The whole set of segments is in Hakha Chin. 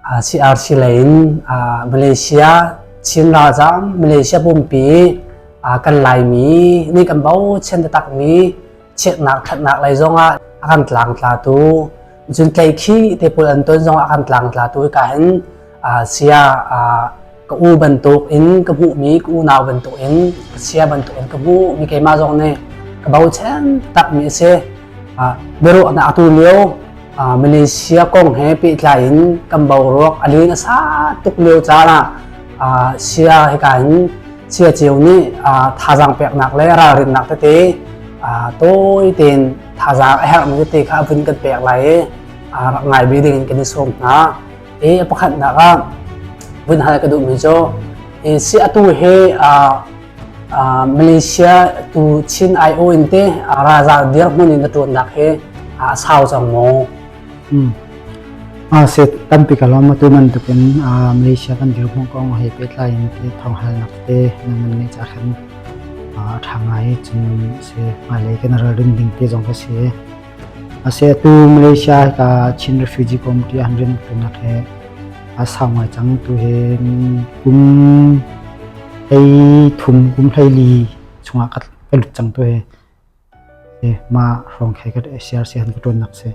CRC lei in Malaysia Chin ralzaam Malaysia pumpi kan Laimi nih kan bochan takmi chiatnak thatnak lei zongah a kan tlang tlatu jun tlaih khi te pul an ton zongah a kan tlang tlatu ka hin sia ka u bantuk in ka hmuhmi ka unau bantuk in ka sia bantuk in ka hmuhmi keimah zong nih ka bochan takmi a si biaruahnak atu lio Malaysia kong he pehtlai in kan boruak a len a sa tuk lio caan ah sia he kain sia ceu nih thazaang peknak le ralrinnak tete tawi tein thazaang a herhmi tete kha vun kan pek lai i rak ngai bi ding in kan i sawm hna i pakhatnak ah vun hal ka duhmi cu si atu he Malaysia tu Chin ION te ralzal dirhmun in a tuannak he a sau cang maw? Hmm. Ah, se tampi ka lom tu man tukin Malaysia kan dirhmun kong he petlai in te thong hal nak te namun ni cha khan a thangai chung se malay kan ral ding ding te jong ka se A setu Malaysia hika Chin Refugee Committee ah hin rianṭuannak he aa sau ngai cang. Tu hi kum hlei thum, kum hlei li chungah ka, ka lut cang tu hi. Hi, mah hrawng he ka CRC han ka ṭuannak si.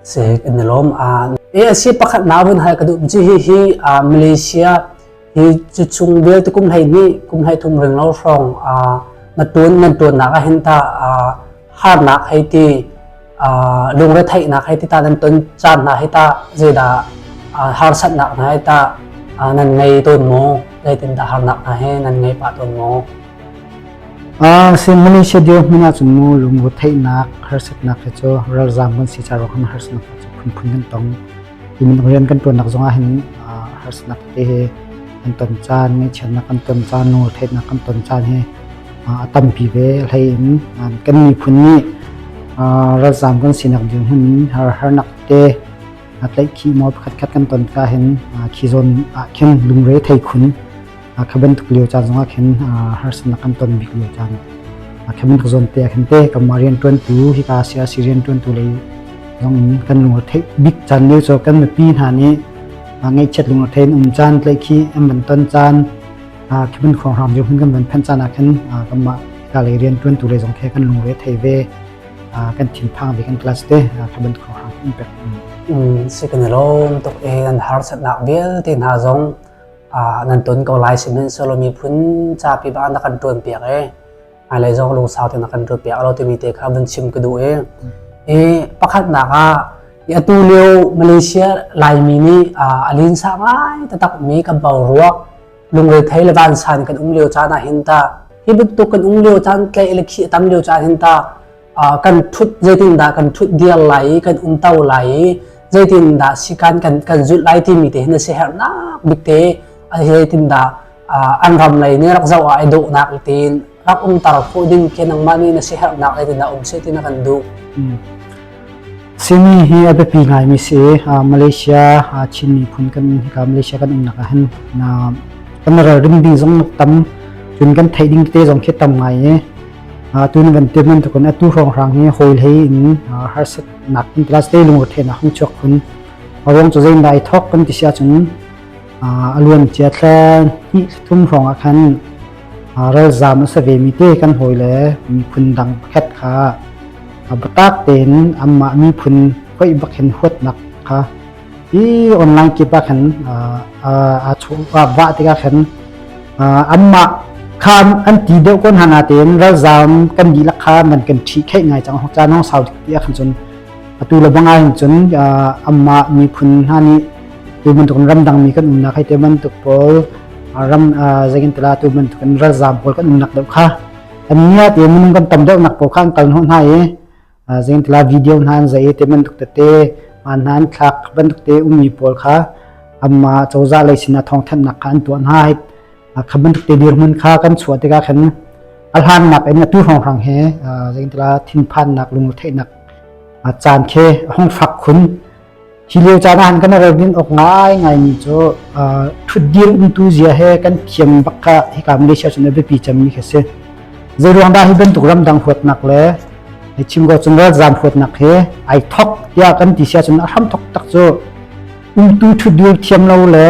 Se kan na lom a ASC pakhat na vun hai ka duh ji hi hi a Malaysia hi chu chung vel te kum hlei ni kum hlei thum ring lo hrawng a na tuan nan tuan na ka hin ta a harnak hei ti lungretheihnak hei ti ta nan ton caan hna hei ta zeidah harsatnak hna hei ta nan ngei tawn maw zeitindah harnak hna he nan ngei pah tawn maw sim mani se dio hmina chu mu lungu theihnak harsatnak ke chu ralzam kan si charo kan harsatnak chu phun phun kan tong Inn rian kan ṭuannak zongah hin harsatnak te he kan ton caan, ngaihchiatnak kan ton caan, lungretheihnak kan ton caan hi a tampi ve. Hlei in kan miphun nih ralzaam kan sinak dirhmun har harnak te tlaihkhih maw pakhatkhat kan ton ka hin khi zawn ah khin lungre thei khun. kha bantuk lio caan zongah khin harsatnak kan ton bik lio caan kha bantuk zawn te ah khin te kanmah rianṭuantu hika siasi rianṭuantu lei zongin kan lungre theih bik caan lio cho kan mipi hna nih ngaihchiat lungre thein um caan tlai khi an van ton caan khi ban khong hram hun kan van phan caan ah khan kanmah ka lei rian tuan tu lei zong khe kan lungre thei ve kan thin phang ve kan class te kha ban khong hram in pek in se kan long tok e an har sat nak vial te hna zong nan ton ko lai sihmanhsehlaw miphun zapi bang na kan ṭuan piak i hmailei zong lungsau te na kan ṭuan piak lo timi te kha vun chim ka duh i i pakhatnak ah i atu lio Malaysia Laimi nih a linsa ngai takmi ka boruak lungrethei le vansan kan um lio caan ah hin ta hi bantuk kan um lio caan tlei le khi a tam lio caan hin ta kan thut zeitindah kan thut diar lai i kan umto lai i zeitindah sikan kan kan zulh lai timi te hin a si hernak bik te zeitindah an ram lei nih rak zoh ah ai dawhnak tiin rak um tar fo ding ke nangmah nih na si hernak zeitindah um se tina kan duh simi hi a biapi ngai mi si malaysia chin miphun kan hika malaysia kan umnak ah hin na kan ral rim ding zong tam cun kan thei ding te zong khi tam ngai e tu na kan tiam bantuk in atu hrawnghrang hi hawi hlei in harsat nak in plus te lung rethei na hung chuak khun awong chu zein dai thok kan ti sia chung aluan chia thla ni thum hrong a khan ral zam a save mi te kan hoi le mi phun dang pakhat kha abatak ten amma mi phun khoi bakin huat nak kha hi online kip ah khan aa chuh vah tikah khan anmah kha an ti deuh ko hna natein ralzaam kan dihlak kha man kan ṭhi kheih ngai cang hok caan hong sau ti ah khan cun atu le bang ahhin cun amah miphun hna nih tu bantuk ramdangmi kan umnak hei te bantuk pawl ram zeikin tila tu bantuk in ralzaam pawl kan umnak deuh kha an nia te minung kan tam deuh nak pawl kha an kal hnu hna i Zeintila video hna an zei te bantuk tete hmaan hna an thlak bantuk te ummi pawl kha amma cozah lei sinah thawngthanhnak kha an tuah hna kha bantuk te dirmun kha kan chuah tikah khan a hlangnak in a tu hrongrang he zeintila thinphannak lungretheihnak caan khe a hong fak khun Hi lio caan ah kan ralrin awk ngai ngai mi cu thutdir umtu zia he kan thiam bakka hika Malaysia cun a biapi cem mi khi si. Zei ruang dah hi bantuk ramdang huatnak le chimgo cun ralzam huatnak he ai thok tiah kan ti sia cun a hram thok tak cu umtu thutdir thiam lo le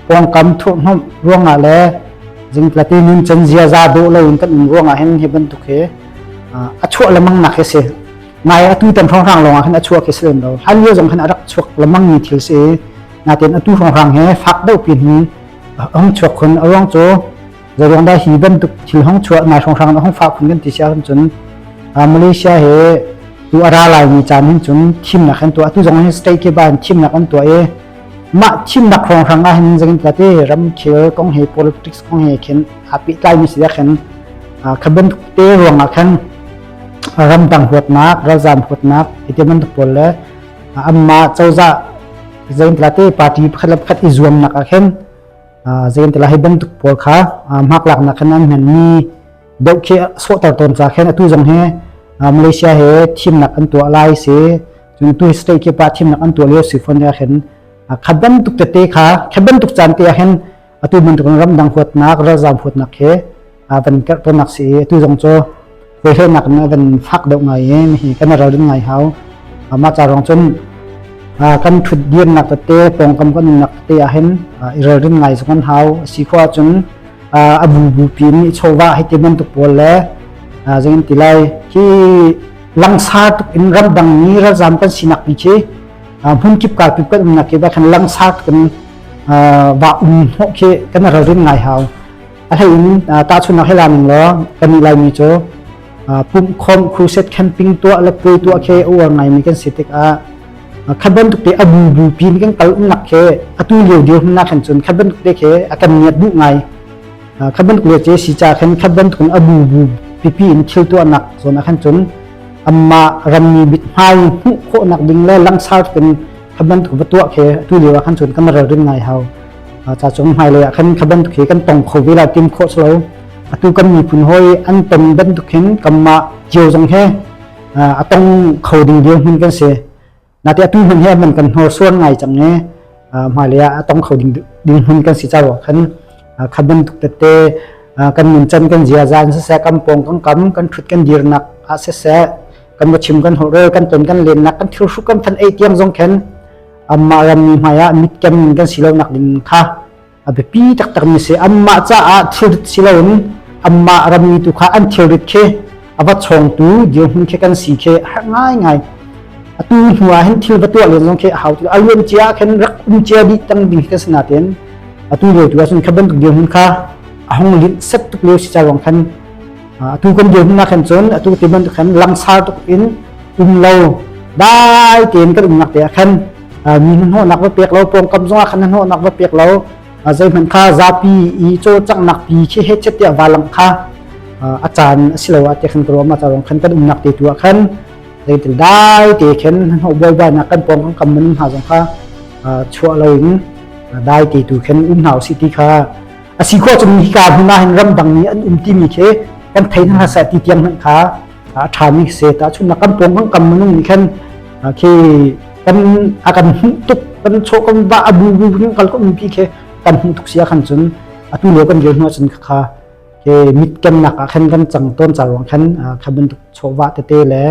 pawngkam thuhnom ruangah le zingtlati nun cen zia za do lo in kan in ruangah hen hi bantuk he a chuah lemang nak hi si ngai a tu tan hrang hrang lawng ah khan a chuak hi si lo hal lio zong khan a rak chuak lamang mi thil si natin a tu hrang hrang he fak deuh pin hi hong chuak khun a ruang chu zo ruang da hi bantuk thil hong chuah ngai hrang hrang hong fa khun kan ti sia cun Malaysia he tu ara lai mi chan hin chun thim nak han tu atu zong hin state ke ban thim nak an tu e ma thim nak hrang hrang a hin zangin ta te ram khel kong he politics kong he khen api tlai mi si khen khaben te ruang a khan ramdang huatnak ralzam huatnak i ti bantuk pawl le amma cozah zeintla te party pakhat le pakhat i zuamnak ah khin zeintla hei bantuk pawl kha hmaklak nak khan an hman mi deuh khi sawhter tawn ca khen atu zong he Malaysia he thimnak an tuah lai se cun tu state ke pa thimnak an tuah lio sifon ya khen khaban tuk te kha khaban tuk chan te ah hen atu bantukin ramdang huatnak ralzaam huatnak he a van in terhtanak si i atu zong cu hweihlenak in a van fak deuh ngai i hi kan ral rin ngai hau ama ca rong cun kan thut diamnak tete pawngkam kan nunnak te ahin i ral rin ngai zong an hau si khua cun a bu bu pin i chova hi ti bantuk pawl le zingin ti lai hi langsar tuk in ramdang ni ralzaam kan sinak ni khi hmun kip ka pip kan umnak ke ba khan langsar tuk in vakmi hnawh khi kan ralrin ngai hau a hleiin tahchunhnak hela ning law kan i laimi cu pumh khom crusade camping tuah le puai tuah khi uar ngaimi kan si tikah khaban tukte abu bu pin kan kal umnak khi atu lio dirhumnak kan cun khaban tukte khi a kan niat bu ngai khaban tukle che si cha khan khaban tukun abu bu pipi in thil tuah nak zona khan cun amma rammi bit hmai hmuh khawh nak ding le langsar tukin ka bantuk va tuah ke tu lio ah khan cun ka maral rin ngai hau cha chung hmai lei ah khan ka bantuk hi kan tong kho ve la tim kho slo atu kan miphun hoi an ton bantuk hin kamma jiu jang he a tong kho ding dil hun kan se na te atu hun he man kan hor suan ngai chang ne hmai lei a tong kho ding ding hun kan si cha ro khan kha bantuk tete kan nun chan kan zia zan se se kam pong kan kam kan thut kan dir nak a se se kan va chim kan holh rel kan ton kan len nak kan thil hru kan than ei tiang zong khen amma ram mi hmaiah mit kem kan si lo nak ding kha a biapi tak tak mi se amma caah thut si lo in amma ram mi tu kha an thil rit khe awa chong tu dio hun khe kan si khe har ngai ngai atu hnua hen thil batua len zong khe hau tu alwen chia khen rak um chia di tang ding ka sna ten atu lo tu sun khaban tuk dio hun kha ahong lit set tuk leo si cha rong khan atu kan dirnak khan cun atu tiban khan langsar tuk in umlo dai tein kan umnak te ah khan mi hnuhnak va pek lo pawngkam zongah khan hnuhnak va pek lo zeihmanh kha zapi i cho caknak pi khi he chet tiah valang kha a caan a si lo a te khan ka ruama tarong khan kan umnak te tu ah khan zeitil dai te khen hno boi ba na kan pawngkam kam mun hna zong kha chuah lo in dai te tu khen um hau si ti kha a si khawh cun hika hmun ah hin ramdang mi an um timi khi kan thei hna seh ti tiang hmanh kha a ṭhami se tahchunnak kan pawng kan kam minung nih khan khi kan a kan hmuh tuk kan chaw kan ba a bu bu kan kal kom pi khi kan hmuh tuk sia khan cun atu lio kan rel hnu cun kha ke mit kennak ah khan kan chang ton chalwang khan kha bantuk chawwa tete le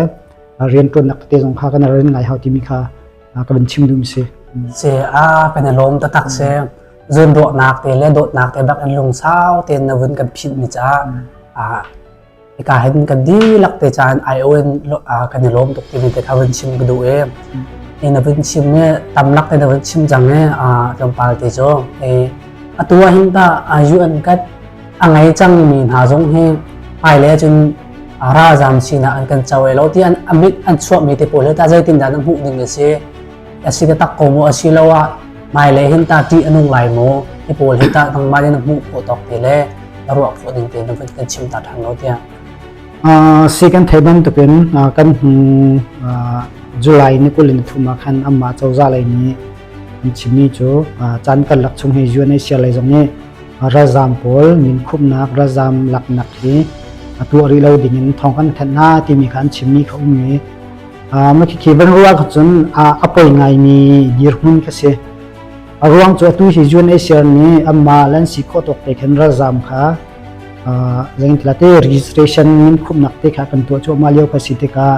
rian tuannak tete zong kha kan ren ngai hau timi kha a ka van chim duhmi si. Se a kan i lawm taktak si. Zunruahnak te le dawtnak te bak in lungsau tein na vun kan philh mi caah a hika hin kan dilak te caan ION kan i lawm tuk timi te kha vun chim ka duh e. E na vun chim e tamlak te na vun chim jang e tlawmpal te jo e atu hin ta UN kat a ngei cangmi hna zong hi hmailei cun ralzam sinah an kan co ai lo ti an amit an chuahmi te pawl hi ta zeitindah na hmuh ding a si a si ka tak ko mu a si lo ah hmailei hin ta ṭih a nung lai mu hi pawl hi ta nangmah nih na hmuh khawh tawk te le na ruah khawh ding te na van kan chim ta ṭhan lo tiah si kan thei bantukin kan July ni kul in thuma khan amma cozah lei nih an chimmi cu caan kan lak chung hi UNHCR lei zong nih ralzaam pawl minkhumhnak ralzaam laknak hi a tuah rih lo ding in thawng kan thanh hna timi kha an chimmi kha um i mah khi van rual kha cun a poi ngaimi dirhmun ka si a ruang cu atu hi UNHCR nih amah lan si khawh tawk te khan ralzaam kha zengtila te registration min khumnak te kha kan tuah chu ma lio ka si te ka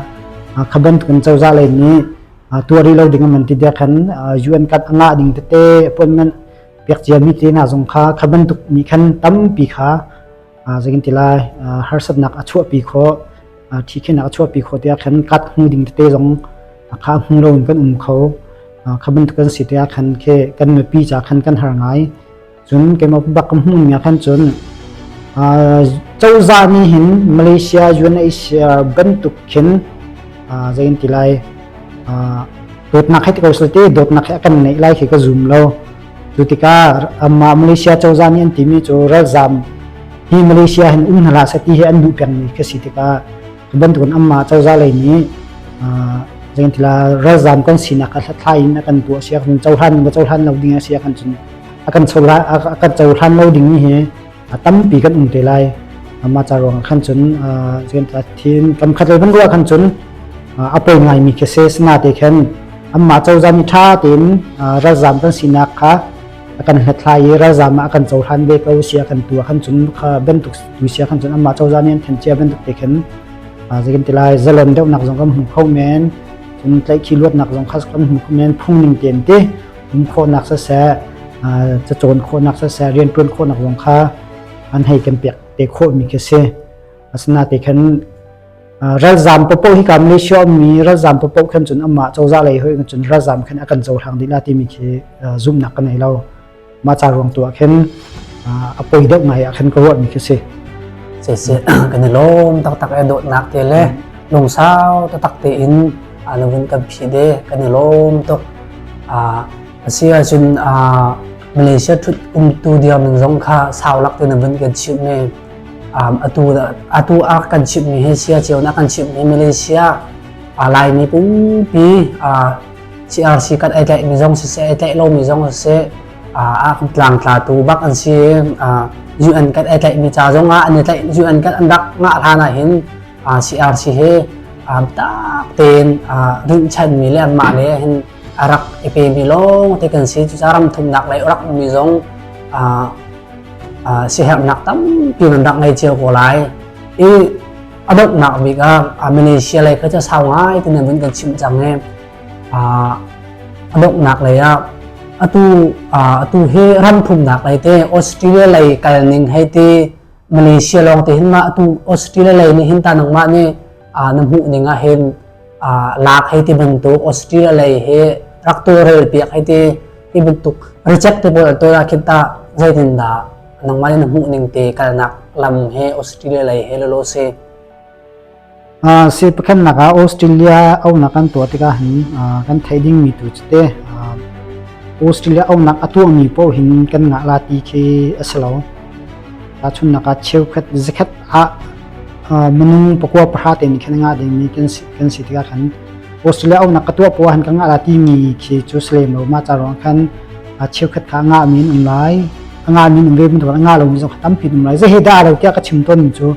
khaban kun chawza lai ni tuari lo ding man ti de khan UN kat anga ding te appointment Pekciami tenak zong kha kha bantuk mi khan tampi kha zagin tilai harsatnak a chuahpi kho thi khinak a chuahpi kho te khan kat hmu ding tete zong kha hmu lo in kan um kho kha bantuk kan si te khan khe kan mipi cha khan kan har ngai cun keima bak kam hmun nga khan cun cozah ni hin Malaysia UNHCR bantuk khin zain tilai dawtnak he ko te dawtnak he kan nei lai khi ka zum lo tu tikah amma malaysia cozah nih an timi cu ralzam hi malaysia han um hna sa ti he an duh peng mi ka si tikah bantukan amma cozah lei nih zengtila ralzam kan sinak a thlai in akan pu siak hun chohlan ba chohlan lo ding a siak kan cun akan chola akan chohlan lo ding hi a tampi kan um te lai amah ca ruang khan cun cun thin kan khat ban ruah khan cun a poi ngai mi khi se sna te khen amma chawzam tha tein ralzam kan sinak kha kan hnathlai i ralzam a kan chohan ve ko sia kan tua khan cun kha bentuk tu sia khan cun amma chawzam in than chia bentuk te khen zakin tilai zalon deuh nak zong kan hmu kho men cun tlaih khi luat nak zong khas kan hmu men phung ning ten te in khawhnak siseh cacawn khawhnak siseh rianṭuan khawhnak zong kha an hei kan pek te khawhmi khi si asinain khan ralzam popo hi ka Malaysia ummi ralzam popo khan cun amah cozah lei hoi cun ralzam khan akan zo hang dila timi khi zumnak ka nei lo ma cha ruang tu ah khin a poi deuh ngai ah khan ka ruah mi khi si se se kan lom tak tak e dot nak te le lung sau ta tak te in ah lo in kan phih de kan i lawm tuk ah a si ahcun ah Malaysia thut umtu diamin zong kha saulak te na vun kan chimh ne um, atu atu a kan chimh mi hi sia chiao na kan chimh mi Malaysia a lai mi pumpi a CRC kan ai tlai mi zong si se ai tlai lo mi zong si a a kan tlang tla tu bak an si a UN kan ai tlai mi cha zong a an i tlai UN kan an rak nga hla na hin CRC he um, tak tein uh, rinhchanmi le anmah le hin a rak i pemi lawng te kan si cucaah ram thumnak lei rak mi zong uh, uh, siherhnak tampi nan rak ngei cio ko lai i a donghnak bik ah uh, Malaysia lei kha cu sau ngai tinan vun kan chim cang e uh, a donghnak lei ah atu uh, atu hi ram thumnak lei te Australia lei kal ning hei ti Malaysia lawng te hin mah tu Australia lei nih hin ta nangmah nih na hmuh ning ah hin lak hei ti bantuk Australia lei hi rak tu rel piak hei ti hi bantuk reject te pawl to da khin ta zeitin dah nangmah nih na hmuh ning te kalnak lam he Australia lei he lo lo si Siangpahrangnak ah Australia aunak kan tuah tikah kan theih dingmi tu cu te Australia aunak a tuahmi paoh hin kan ngah la ti khi a si lo. Tahchunnak ah cheukhat zakhat ah minung pakua pahra te nih khan ngah dingmi kan si tikah khan Australia aunak ka tuah paoh han ka ngah la timi khi cu si lem lo ma ca ruang khan cheukhat kha ngah min um lai ngah min um ve mun ngah lo mi zong tampi um lai ze he da lo tiah ka chim ton cu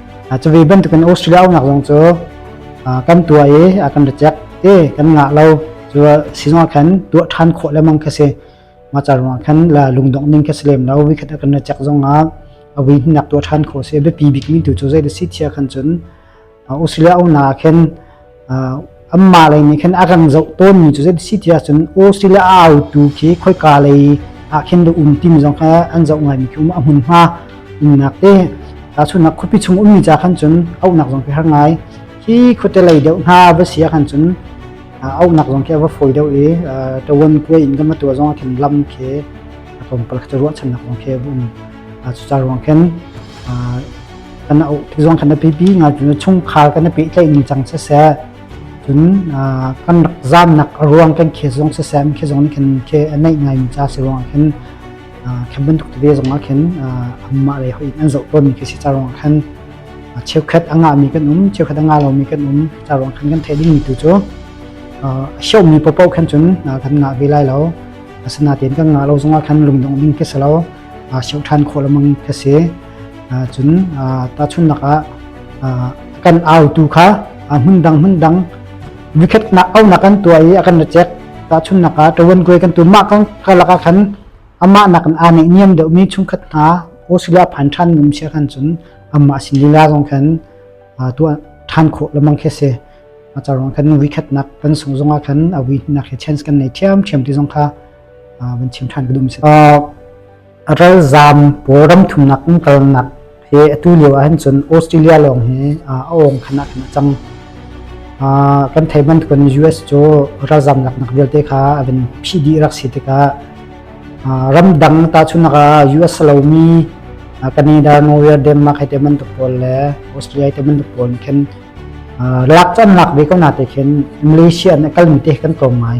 Cuvi bantukin Australia umnak zong cu kan tua i kan reject te kan ngah lo cu sizung ah khan tuah ṭhan khawh lemang kha si maca ruang khan la lungdong ning kha si lem lo vi khat kan reject zong ah a vi nak tuah ṭhan khawh si a biapi bikmi tu cu zei da si thia khan cun Australia umnak ah khin anmah lei nih khan a rang zoh tawnmi cu si ti ahcun Australia a autu khi khoika lei ah khin dah um timi zong kha an zoh ngaimi khi um a hmunhma umnak te tahchunnak khuapi chung ummi ca khan cun auhnak zong khi har ngai hi khuate lei deuh hna va sia khan cun auhnak zong khi a va fawi deuh i tawan kuai in gama tua zong a khin lam khi a tlawmpal khi ruahchannak zong khi a um cucar ruang khin kan auh ti zong kan api pi ngal cun chungkhar kan api tlaih ning cang siseh cun kan rak zamnak ruang kan khe zong siseh mi zong nih khin khe anaih ngai mi ca si ruang khin khem bantuk te zong ah khin amma le ho in an zoh tawn mi khi si ca ruang khan cheukhat anga mi kan um cheukhat anga lo mi kan um ca ruang khan kan thei ding mi tu cu xiao mi popo khan cun kan ngah ve lai lo asina tin kan ngah lo zong ah khan lungdong ding ke salo siang ṭhan khawh lengmang ka si. Cun tahchunhnak ah kan autu kha hmundang hmundang vikhat nak aunak kan tuah i a kan ra chek tahchunhnak ah ṭawan kuai kan tu mah kan ka lakah khan amah nak in aa neih niam deuhmi chungkhat hna osila phan ṭhan ngam sia khan cun amah sin lila zong khan tuah ṭhan khawh lamang khi si a carong khan vikhat nak kan sung zongah khan a wi nak he chance kan nei thiam thiam ti zong kha van chim ṭhan ka dum si. A ralzaam pawl ram thumnak in kalnak he atu lio ahhin cun Australia lawng hi a awng khan ahkhan a cang. kan thei ban kun US cu ralzam lak nak vialte kha avin phi di rak si tikah ram dang ta chunaka US lomi Canada Norway Denmark hai te man to pol le Australia te man to pol khen lak chan lak ve ko na te khen Malaysia na kal mi te kan tlawm ngai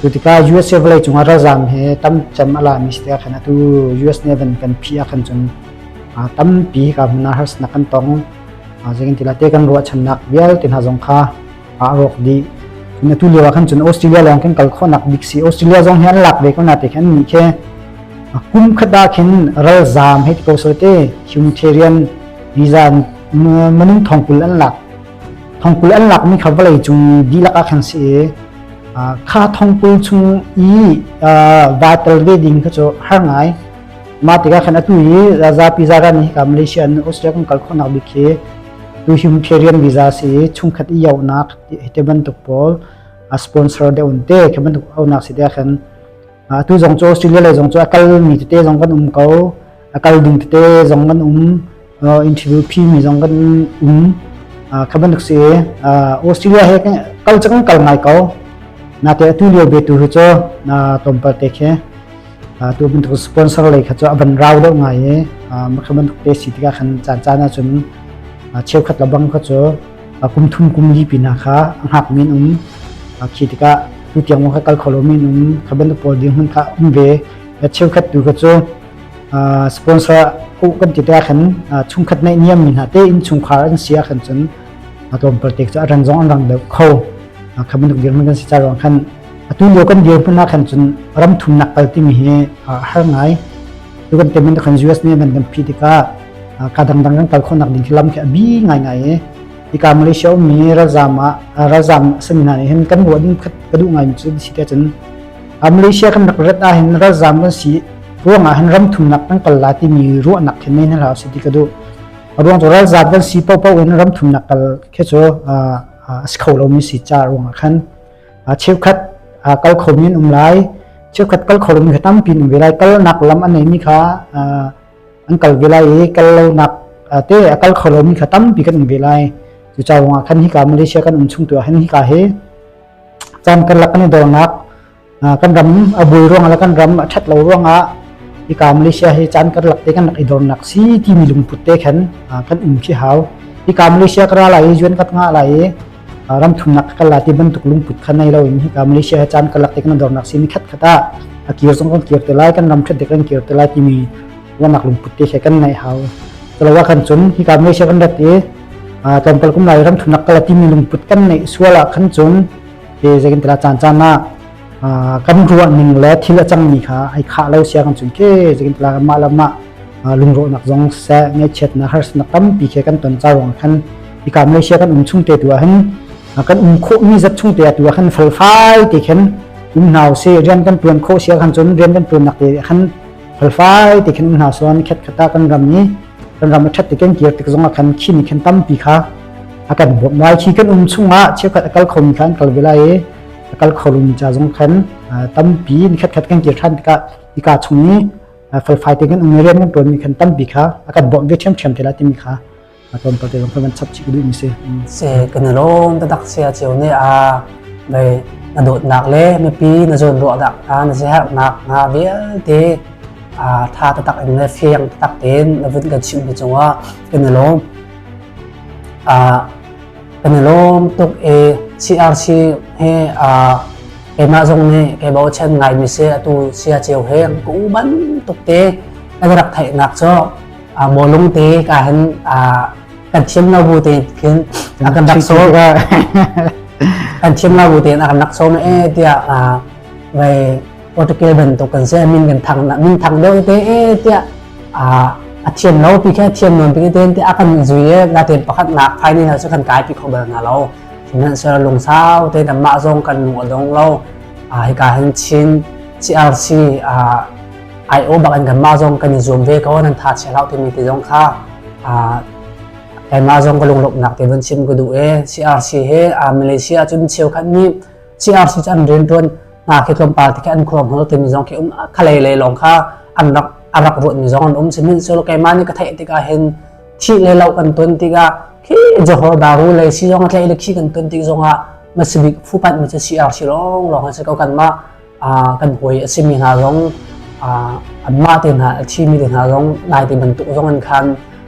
Cu tikah US vawlei cung ah ralzaam he tam cem a lami si te ah khan atu US nih even kan phih ah khan cun tampi hika hmun ah harsatnak kan tong. Zeitintilah te kan ruahchannak vialte hna zong kha a rawk dih. Atu lio ah khan cun Australia lawng kan kal khawhnak bik si. Australia zong hi an lak ve ko na te khan nih khe kum khat ah khin ralzaam hei ti ko sote humanitarian visa manung thong kul an lak thongpui an lakmi kha vawlei cung i dihlak ah khan si i kha thongpui chung i va tel ve ding kha cu har ngai mah tikah khan atu hi zapi zagan hi ka Malaysia an Australia kan kal khawhnak bik khi tu him pherian visa si chungkhat i yaunak hi te bantuk pawl a sponsor de un te khi bantuk aunak si te khan atu zong cu australia lei zong cu a kalmi tete zong kan um ko a kal ding tete zong kan um interview phi mi zong kan um kha bantuk si australia he kal cang kal ngai ko na te atu lio be tu hu cho na tom pa te khe tu bantuk sponsor lei kha cho aban rau deuh ngai e makha bantuk te si tika khan chan chan na chun cheu khat la bang kha cho kum thum kum li pinah kha a ngakmi an um khi tikah tu tiang kha kal kho lomi an um kha bantuk pawl dirhmun kha um ve cheukhat tu kha cu sponsor ku kan ti ta khan chungkhat nei niam mi hna te in chungkhar an sia khan chun atlawmpal tek chu aran zong an rang deuh kho khamin tuk dirhmun kan si cha rong khan atu lio kan dirhmun na khan chun ram thum nak kal timi hi har ngai Tugan payment kan US ne man kan phi tikah ka dangdang kan kal khawnak ding lam khi abi ngai ngai e ika Malaysia mi ralzam ah ralzam sanina ne hin kan buat ding khat ka du ngai mi chu si te chun Malaysia kan rak rat a hin ralzam kan si ruang ah hin ram thum nak kan kal la ti mi ruah nak hin ne na la si ti ka du ruang to ralzam kan si pau pau in ram thum nak kal khe cho as kho lo mi si cha ruang khan cheukhat kal khomi an um lai cheukhat kal kho lomi kha tampi an um ve lai kalnak lam an neimi kha an kal ve lai i kal lonak te a kal kho lomi kha tampi kan um ve lai cucawng ah khan hika Malaysia kan um chung tu han hika he chan kan lak kan i dornak kan ram a bul ruang la kan ram a that lo ruang ah ika Malaysia he chan kan lak te kan lak i dornak si ti mi lungput te khan kan um khi hau ika Malaysia kra lai juan kat nga lai ram thumnak ka kal la ti bantuk lungput kha nei lo in hika Malaysia he caan ka lak tik na dornak si ni khat khat ah a kir zong kan kir te lai kan ram thret dek kan kir te lai timi wanak lungput te he kan nei hau telawa kan chun hika Malaysia kan rat i tlawmpal kum lai ram thumnak kala timi lungput kan nei suala kan chun te zekin tela chan chan na kan ruahning le thil a cangmi kha ai khah lo sia kan cun ke zekin pla mah la mah lungrawnak zong se ngaihchiatnak harsatnak tampi ke kan ton chawang khan ika Malaysia kan um chung te tu hin kan um kho mi zat chung te tu khan fel fai te khen um nau se rian kan tuan kho sia khan chun rian kan tuan nak te khan fel fai te khen um nau son khet khata kan ram ni kan ram that te ken kir tik zonga khan khini khen tampi kha akan bok mai khi kan um chunga chekhat akal khom khan kal velai kal kholomi ca zong khan tampi ni khatkhat kan kir than tikah ika chung i felfai te kan ung rian kan tuan mi khan tampi kha akan bawm ve ṭhiam ṭhiam tela timi kha aton to te zong kan chap chik duh mi si se kan lom ta dak sia chiu ne a dai na dot nak le mipi na zon ruah dak ta na se har nak na vialte a tha ta tak in le fiang tak ten na vun kan chim bi chunga kan lom a kan i lawm tuk e CRC he uh, keimah zong nih kei bochan ngaimi si atu sia ceu he an ku ban tuk te ka rak theihnak cu mo lung te ka han kan thiam lo bu te khin a kan rak so kan thiam lo bu te a kan rak so me tia vai Portugal bantuk kan si min kan thang min thang deuh te tiah a thian lo pi khe thian nuan pi te te a kan zui na ten pakhat nak phai ni na su kan kai pi kho bal na lo nan ser lung sau te na ma zong kan nu adong lo a hi ka han chin CRC IO bakan kan ma zong kan zoom ve ko nan tha che lau te mi te zong kha ma zong ka lunglop nak te van chim ku du e CRC he a Malaysia chun cheu khan ni CRC chan rin tuan hna khi tlawmpal ti an khuang hol timi zong khi um khalei lei lawng kha an rak a rak ruat mi zong an um simin solo keimah nih ka theih tikah hin thi le lo kan ton tikah khi johor daru le si zong tlei le khi kan ton tik zongah masibik fupat mi chu CR si long long an si ko kan ma kan hoi a simi hna zong an ma te hna a thi mi te hna zong nai te bantuk zong an khan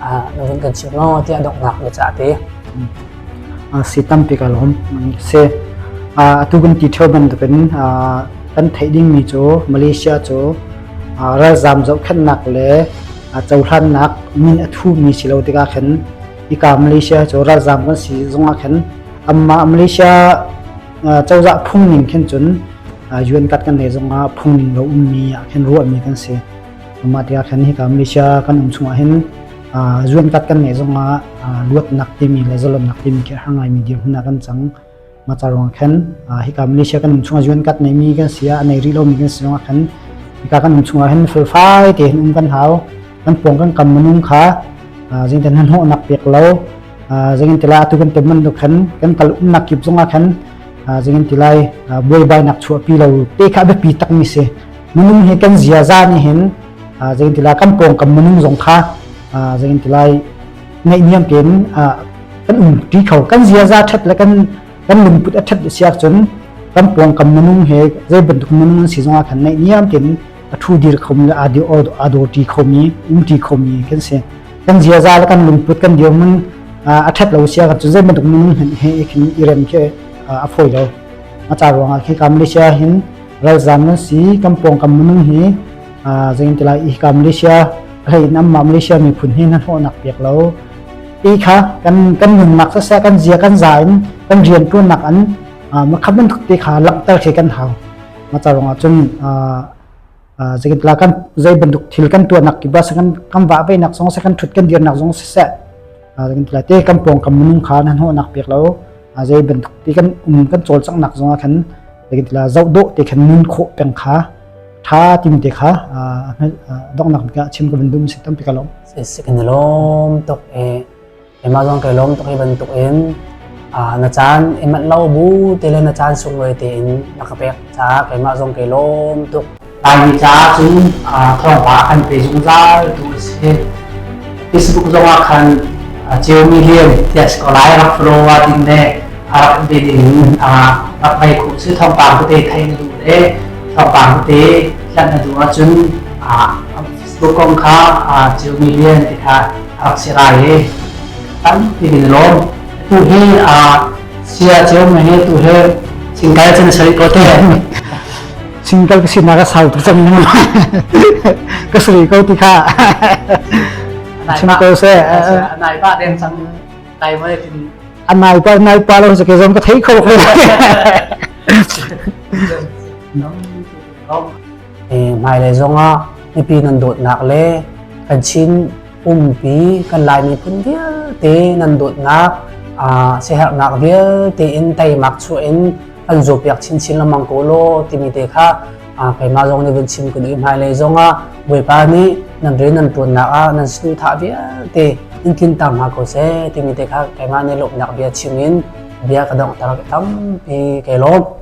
ah run kan chim lo tiah donghnak na ca te si tampi ka lom se atu kan ti theo bantukin kan theih dingmi cu malaysia cu ralzam zohkhannak le cohlannak min a thumi si lo tikah khan ika malaysia cu ralzam kan si zungah khan amma malaysia cozah phungning khin cun yuan kat kan nei zungah phungning lo ummi ah khin ruahmi kan si Mah tiah khan hika Malaysia kan um chungah hin zuamtat kan ngeih zongah luatnak timi le zalonnak timi khi a har ngaimi dirhmun ah kan cang. Mah ca ruang khan hika Malaysia kan um chungah zuankat neimi kan si a nei rih lomi kan si zongah khan hika kan um chungah hin felfai te hin um kan hau. Kan pawng kan kam minung kha zingten han hawh nak pek lo zingin tila atu kan tem man do khan kan kal um nak kip zongah khan zingin tilai buai bai nak chuah pi lo te kha be pi tak mi se minung hi kan ziaza nih hin zeitintilai kan pawngkam minung zong kha zeitintilai ngaihniam tein kan um pi kho kan ziaza ṭhat le kan kan lungput a ṭhat siak cun kan pawngkam minung he zei bantuk minung an si zongah khan ngaihniam tein a thu dir khomi le a dor ti khomi um ti khomi kan si kan ziaza le kan lungput kan dirmun a ṭhat lo siak cun zei bantuk minung he i rem ke a phoi lo a ca ruangah khi ka Malaysia hin ralzam na si kan pawngkam minung hi zeintilah i ka Malaysia hlei in amma Malaysia miphun hi na hlawhnak pek lo i kha kan kan nunnak sasa kan zia kan za in kan rian tuannak an ma khaman thuk te kha langter khi kan hau ma charong a chun zekinla kan zei banduk thil kan tuanak ki bas kan kan wa ve nak song se kan thut kan dir nak song se kan ti lai te kan pawng kam minung kha nan hnawhnak pek lo zei bantuk ti kan um kan cawlcanghnak zong ah khan kan ti la zoh dawh te khan nun khawh peng kha tha tim te kha donghnak ka chim ka bandum si tam pika lom se kan lom tok e amazon kai lom tok e ban tok in na chan emat lo bu te le na chan sung loi te in na ka pek cha kai ma zong kai lom tok Laimi caah cun thawngpang a kan pe zungzal tu a si. Facebook zong ah khan ceu million tias ko lai rak follower ding ne a rak be ding rak mai khu su thawngpang te thai na du le thawngpang te hlan na du a cun Facebook kong kha ceu million te kha rak si rai le tam tigin lom tu he sia ceu me tu he singkai chan sari ko te single ka sinak ka sau tuk cang ka sri ko ti kha chim ko se nai pa den chang tai ma tin anai pa nai pa lo se ke zom ka thei kho ko eh mai le zonga ipi nan dot nak le kan chin umpi kan lai mi phun vial te nan dot nak a seher nak vial te in tai mak chu in an zawpiak chinchin lamang ko law timi te kha keimah zong nih vun chim kan i hmailei zongah Bawipa nih nan rian nan ṭuannak ah nan snu thah vialte in tlinter hna ko seh timi te kha keimah nih lawmhnak bia chim in bia ka donghter tampi ke lawm.